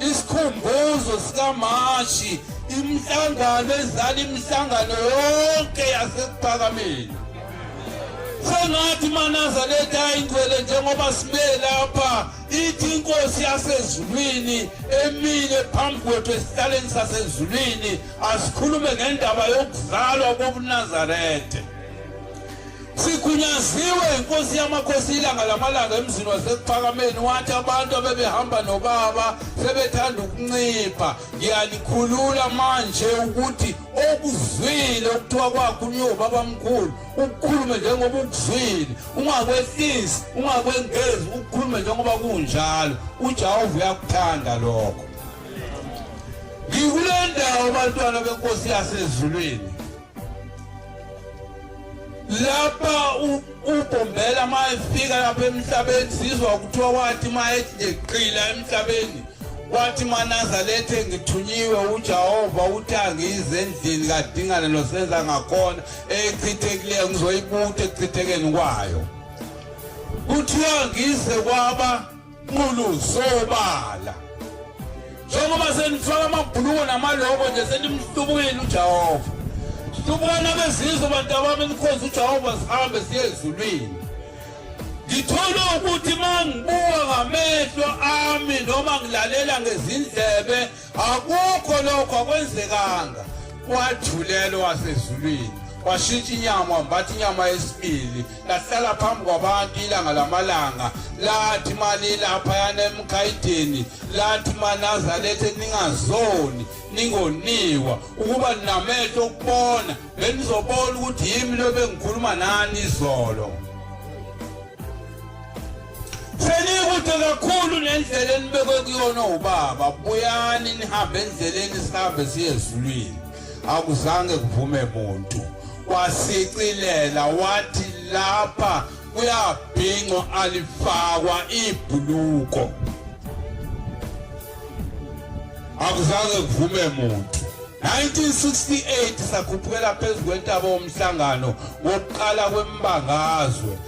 Isikhumbuzo sikaMashi imihlangano ezala imihlangano yonke yasekuphakameni sengathi manaza letha ingcwele njengoba sibe lapha ithi inkosi yasezulwini emile phambi kwethu esihlaleni sasezulwini asikhulume ngendaba yokuzalwa kobunazarethe Sigunyaziwe inkosi yamakhosi ilanga lamalanga emzini wasekuphakameni wathi abantu abebehamba nobaba sebethanda ukuncipha ngiyalikhulula manje ukuthi okuzwile okuthiwa kwakho uniyobaba mkhulu ukukhulume njengoba ukuzwile ungakwehlisi ungakwengezi ukukhulume njengoba kunjalo ujehova uyakuthanda lokho ngikule ndawo bantwana benkosi yasezulwini lapha ubombela uma efika lapha emhlabeni sizwa kuthiwa wathi uma eqila emhlabeni wathi manazalethe ngithunyiwe ujehova uthi angize endlini kadingane nosenza ngakhona echithekileyo ngizoyibuthi ekuchithekeni kwayo kuthiwa ngize kwaba Nqulu sobala. Njengoba senifaka amabhuluko namaloko nje senimhlubukile uJehova. Hlubukani abezizwe bantu abami nikhonza uJehova sihambe siye ezulwini. Ngithola ukuthi mangibuka ngamehlo ami noma ngilalela ngezindlebe akukho lokho akwenzekanga wadlulelwa wasezulwini washintsha inyama wambatha inyama yesibili lahlala phambi kwabantu ilanga lamalanga lathi mali laphayana emkhayidini lathi manazalethe ningazoni ningoniwa ukuba ninamehlo okubona benizobona ukuthi yimi lobe ngikhuluma nani izolo senikude kakhulu nendlela enibekwe kuyona ubaba buyani nihambe endleleni sihambe siye ezulwini akuzange kuvume muntu wasicilela wathi lapha kuyabhinqwa alifakwa ibhuluko akuzange kuvume muntu 1968 sakhuphukela phezu kwentaba womhlangano wokuqala kwembangazwe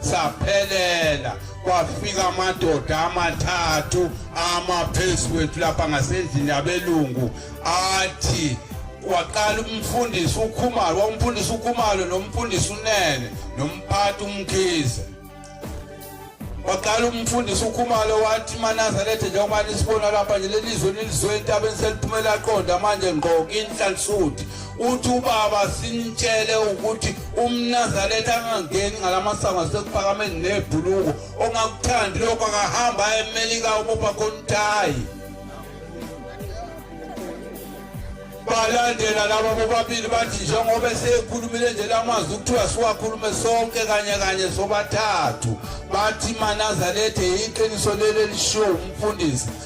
saphelela kwafika amadoda amathathu ama phezu kwethu lapha ngasendlini yabelungu athi waqala umfundisi ukhumalo wawumfundisi ukhumalo nomfundisi unene nomphathi umkhize waqala umfundisi ukhumalo wathi manazaretha njengoba nisibona lapha nje lelizwe nilizwe entabeni seliphumela qonda manje ngqo inhlansuthi uthi ubaba simtshele ukuthi umnazaretha angangeni ngalamasango asekuphakameni nebhuluko ongakuthandi lokho akahamba emelika ubopha kontayi balandela laba bobabili bathi njengoba esekhulumile nje lamazwi kuthiwa siwakhulume sonke kanye kanye sobathathu bathi manazarethe yiqiniso leli elishiwo umfundisi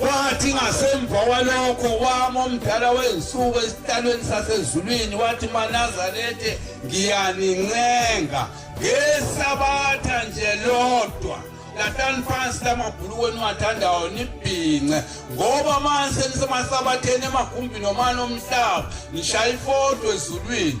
Wathi ngasemva kwalokho wama omdala wey'nsuku esihlalweni sasezulwini wathi manazarethe ngiyanincenga ngesabatha nje lodwa lahlani phansi lamabhulukwe niwathandayo nibhince ngoba manje senisemasaba theni emagumbini omane omhlaba nishaya ifoto ezulwini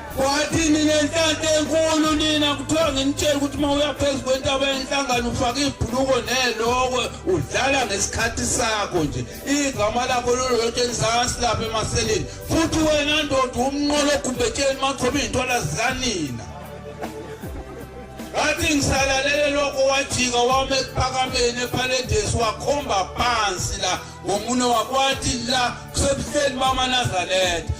Kwathi ninenhlanhla enkulu nina kuthiwa nginitshela ukuthi uma uya phezu kwentaba yenhlangano ufaka ibhuluko nelokwe udlala ngesikhathi sakho nje igama lakho lolotsheni lisakasi lapha emaseleni futhi wena ndoda umnqolo ogumbetsheni maqhoba iy'ntwala zikanina ngathi ngisalalele lokho wajika wama ekuphakameni ephaledesi wakhomba phansi la ngomunwe wakwathi la kusebuhleni bamanazaretha